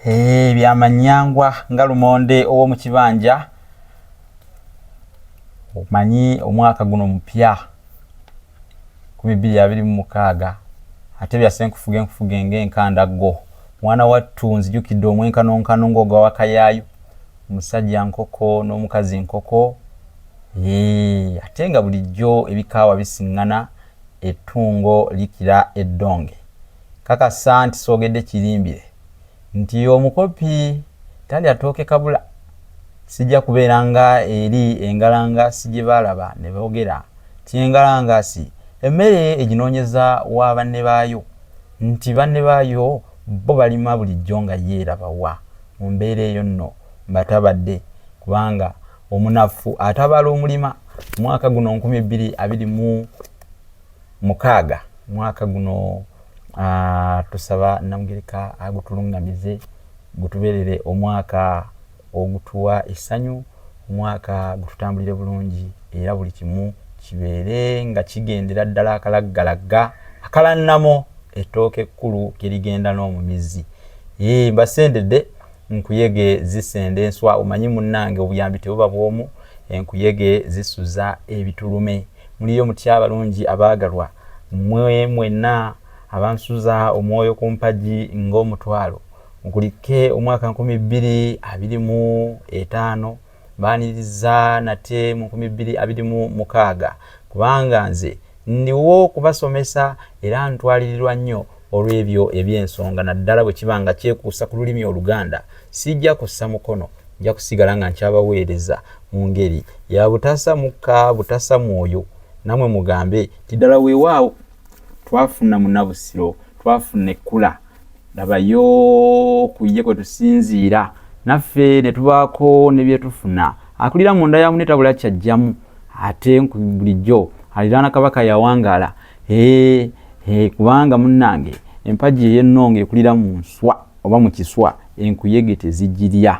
Eh, byamanyangwa nga lumonde ow'omu kibanja omanyi omwaka guno mupya kumi bbiri abiri mu mukaaga ate byasenkufuga enkufuga enga enkanda go mwana wattu nzijukidde omwenkanonkano ng'oga wakayaayu omusajja nkoko n'omukazi nkoko eh, ate nga bulijjo ebikaawa bisiŋŋana ettungo likira eddonge Kakasa nti sogedde kirimbire nti omukopi talya tooke kabula. Sijja kubeera nga eri engalangasi gye baalaba ne boogera nti engalangasi emmere eginoonyeza wa banne baayo, nti banne baayo bo balima bulijjo nga yo eraba wa? Mu mbeera eyo nno mbatabadde kubanga omunafu atabala omulima. Omwaka guno nkumi bbiri abiri mu. mukaaga mwaka guno uh, tusaba namugereka agutulungamize gutuberere omwaka ogutuwa essanyu omwaka gututambulire bulungi era buli kimu kibeere nga kigendera ddala akalaggalagga akalannamo ettooka ekkulu kerigenda n'omumizi ee mbasendedde nkuyege zisenda enswa omanyi munnange obuyambi tebuba bwomu enkuyege zisuza ebitulume Muliyo mutya abalungi abaagalwa, mmwe mwenna abansuza omwoyo ku mpagi ng'omutwalo gukulikke omwaka nkumi bbiri abiri mu etaano, mbaaniriza nate mu nkumi bbiri abiri mu mukaaga, kubanga nze ndiwo kubasomesa era ntwalirirwa nnyo olw'ebyo eby'ensonga naddala bwe kiba nga kyekuusa ku lulimi oluganda sijja kussa mukono nja kusigala nga nkyabaweereza mu ngeri ya butasa mukka butasa mwoyo namwe mugambe nti ddala weewaawo twafuna munabusiro twafuna ekkula labayo ku ye kwe tusinziira naffe ne tubaako ne bye tufuna akulira munda ya mune tabula kyajjamu ate bulijjo aliraana kabaka yawangaala Hee, hee, kubanga munnange empagi ey'ennonga ekulira mu nswa oba mu kiswa enkuyege tezigirya.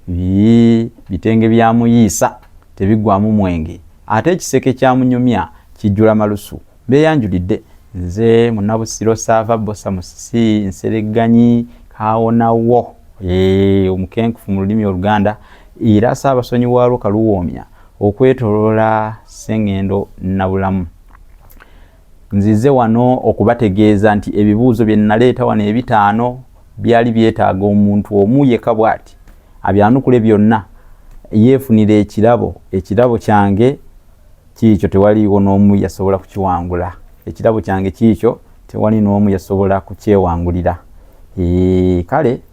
Yii, bitenge bya Muyiisa tebiggwaamu mwenge ate ekiseke kya Munyumya kijjula malusu. Mbeeyanjulidde. Nze Munnabusiro Ssaava Bbosa Musisi Nseregganyi Kaawonawo, hee, omukenkufu mu lulimi Oluganda era Ssaabasonyiwaalwo Kaluwoomya. Okwetoloola Ssengendo Nabulamu. Nzize wano okubategeeza nti ebibuuzo bye nnaleeta wano ebitaano byali byetaaga omuntu omu yekka bw'ati abyanukule byonna yeefunire ekirabo. Ekirabo kyange kiikyo tewaliiwo n'omu yasobola kukiwangula. Ekirabo kyange kiikyo tewali n'omu yasobola kukyewangulira. Eeh kale.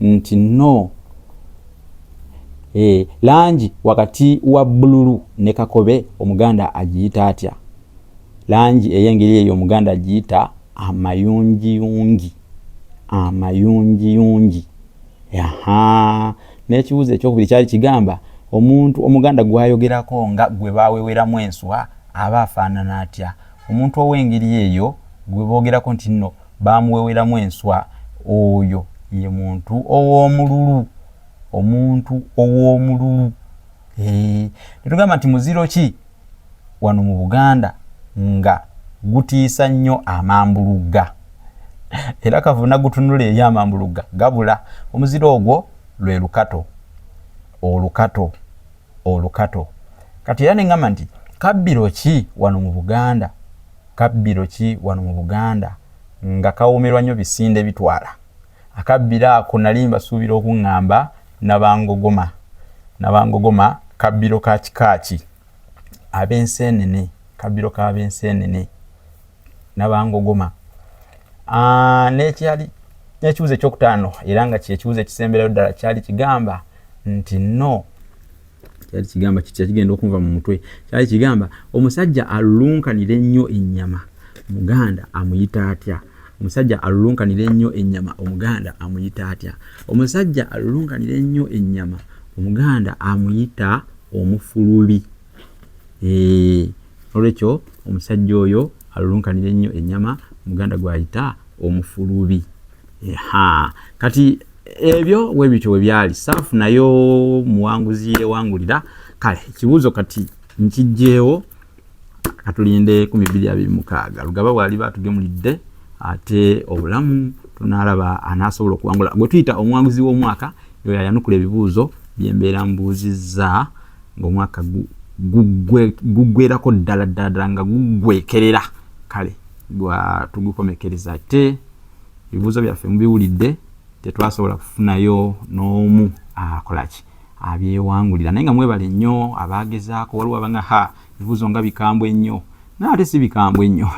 nti no e, langi wakati wa bululu ne kakobe omuganda agiyita atya langi eyengeri eyo omuganda agiyita amayungiyungi amayungiyungi aha n'ekibuuzo ekyokubiri kyali kigamba omuntu omuganda gwayogerako nga gwe baweweramu enswa aba afaanana atya omuntu ow'engeri eyo gwe boogerako nti nno baamuweweramu enswa. Oyo ye muntu ow'omululu, omuntu ow'omululu. Eeh, ne tugamba nti muziro ki wano mu Buganda nga gutiisa nnyo amambulugga? Era kavuna gutunula eri amambulugga gabula. Omuziro ogwo lwe lukato, olukato. olukato kati era nengamba nti kabbiro ki wano mu buganda kabbiro ki wano mu buganda nga kawoomerwa nnyo bisinde bitwala akabbiro ako nali mbasuubira okuŋŋamba nabangogoma nabangogoma kabbiro ka kika ki ab'enseenene kabbiro k'ab'enseenene nabangogoma ah, nekyali nekibuzo ekyokutaano era nga kyekibuzo ekisemberayo ddala kyali kigamba nti no kyali kigamba kigenda okunva mu mutwe kyali kigamba omusajja alulunkanira ennyo ennyama muganda amuyita atya omusajja alulunkanira ennyo ennyama omuganda amuyita atya omusajja alulunkanira ennyo ennyama omuganda amuyita omufulubi eee eh, nolwekyo omusajja oyo alulunkanire nnyo ennyama muganda gwayita omufulubi ha kati ebyo webityo webyali saafu nayo muwanguzi yewangulira kale ekibuuzo kati nkijjeewo katulinde ku mibiri abiri mukaaga lugaba bwaliba atugemulidde ate obulamu tunalaba anasobola okuwangula gwe tuyita omuwanguzi w'omwaka yoyo ayanukula ebibuuzo byembeera mbuuzizza ng'omwaka guggwerako ddala ddala ddala nga guggwekerera kale tugukomekereza ate ebibuuzo byaffe mubiwulidde tetwasobola kufunayo n'omu akolaki abyewangulira naye nga mwebale nnyo abaagezaako waliwo abanga ha ebibuuzo nga bikambwe ennyo naye ate si bikambwe nnyo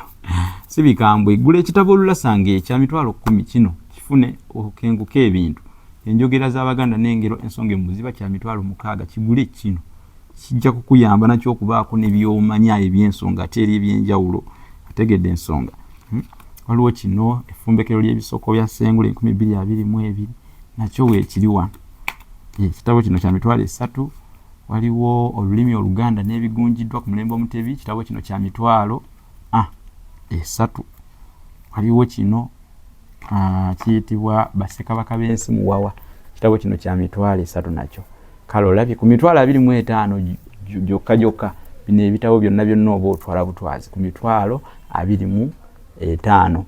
si bikambwe gula ekitabo olulasanga ekya mitwalo kkumi kino kifune okenguka ebintu Enjogera z'Abaganda n'engero ensonge mu buziba kya mitwalo mukaaga. Kigule kino kijja kukuyamba nakyo okubaako ne by'omanya eby'ensonga ate eri eby'enjawulo. Otegedde ensonga? Hmm? Waliwo kino effumbekero ly'ebisoko bya Ssengule enkumi bbiri abiri mu ebiri nakyo weekiri wano. Ekitabo eh, kino kya mitwalo esatu. Waliwo olulimi Oluganda n'ebigunjiddwa ku mulembe Omutebi. Ekitabo kino kya mitwalo. a esatu waliwo kino kiyitibwa basekabaka b'ensi muwawa kitabo kino kya mitwalo esatu nakyo kale olabye ku mitwalo abiri mu etaano gyokka gyokka bino ebitabo byonna byonna oba otwala butwazi ku mitwalo abiri mu etaano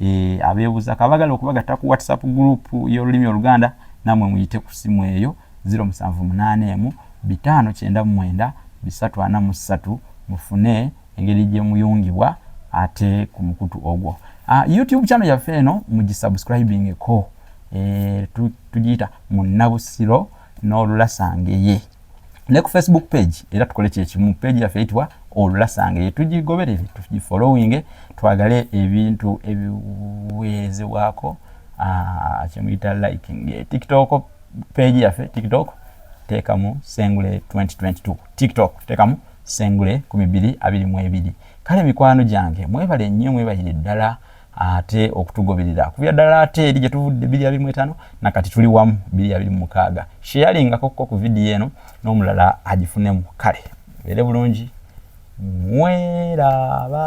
eh, abeebuza kabagala okubagatta ku whatsapp group y'olulimi oluganda namwe muyite ku simu eyo 0781 bitaano kyenda mu mwenda bisatu ana mu ssatu mufune engeri gye muyungibwa ate ku mukutu ogwo uh, youtube channel yaffe eno mugisubscribingeko e, eh, tugiyita munnabusiro n'olulasangeye ne ku facebook page era tukole kyekimu page yaffe eyitibwa olulasangeye tugigoberere tugifollowinge twagale ebintu ebiweerezebwako ah, kyemuyita liking eh, tiktok page yaffe tiktok teekamu sengule 2022 tiktok teekamu sengule 2222 kale mikwano gyange mwebale nnyo mwebalire ddala ate okutugoberera kubya ddala ate eri gye tuvudde biri abiri mu etaano na kati tuli wamu biri abiri mu mukaaga sheyaringako ko ku vidiyo eno n'omulala agifunemu kale beere bulungi mweraba